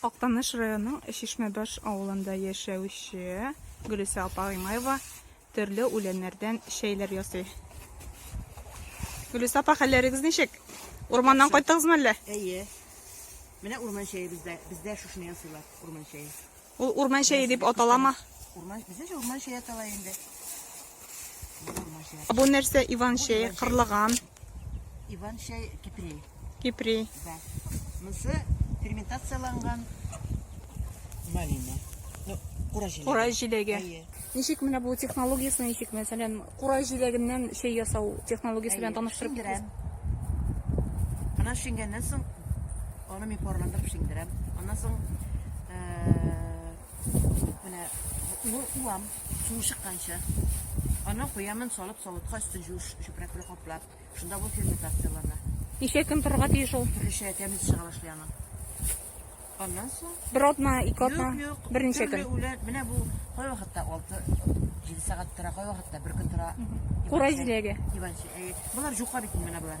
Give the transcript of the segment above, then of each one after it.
Актаныш районының Чишмәбаш авылында яшәүче Гөлүсә апа Гыймаева төрле үләннәрдән чәйләр ясый. Гөлүсә апа, хәлләрегез ничек? Урманнан кайттыгызмы әллә? Әйе. Менә урман чәе бездә. Бездә шушыны ясыйлар, урман чәе. Ул урман чәе дип аталама? Урман, бездә урман чәе атала инде. Бу нәрсә Иван чәе, кырлыган. Иван чай кипри. Кипри. Да. Монысы ферментацияланган малина. Ну, кура җиләге. Кура җиләге. Әйе. Ничек менә бу технологиясе ничек? Мәсәлән, кура җиләгеннән чәй ясау технологиясе белән таныштырып китегез. Шиңдерәм. Ана шиңгәннән соң аны мин парландырып шиңдерәм. Аннан соң э, Менә бу уам, суы чыкканча. Аны куямын салып савытка өстен жуш чүпрәк белән каплап. Шунда бу ферментациялана. Ничә көн торырга тиеш ул? Төрлечә тәмле чыга башлый аның. Аннан соң Бер атна, ике атна, берничә көн. Үлән, менә бу кай вакытта 6-7 сәгать тора, кай вакытта бер көн тора. Курай җиләге. Диванчы. Булар җука бит менә булар.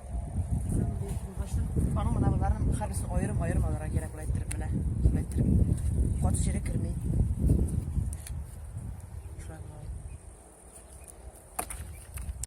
Аның мына боларның хәрбисен аерым-аерым алырга кирәк була әйттереп менә. Әйттереп. Кат сире керми. Шулай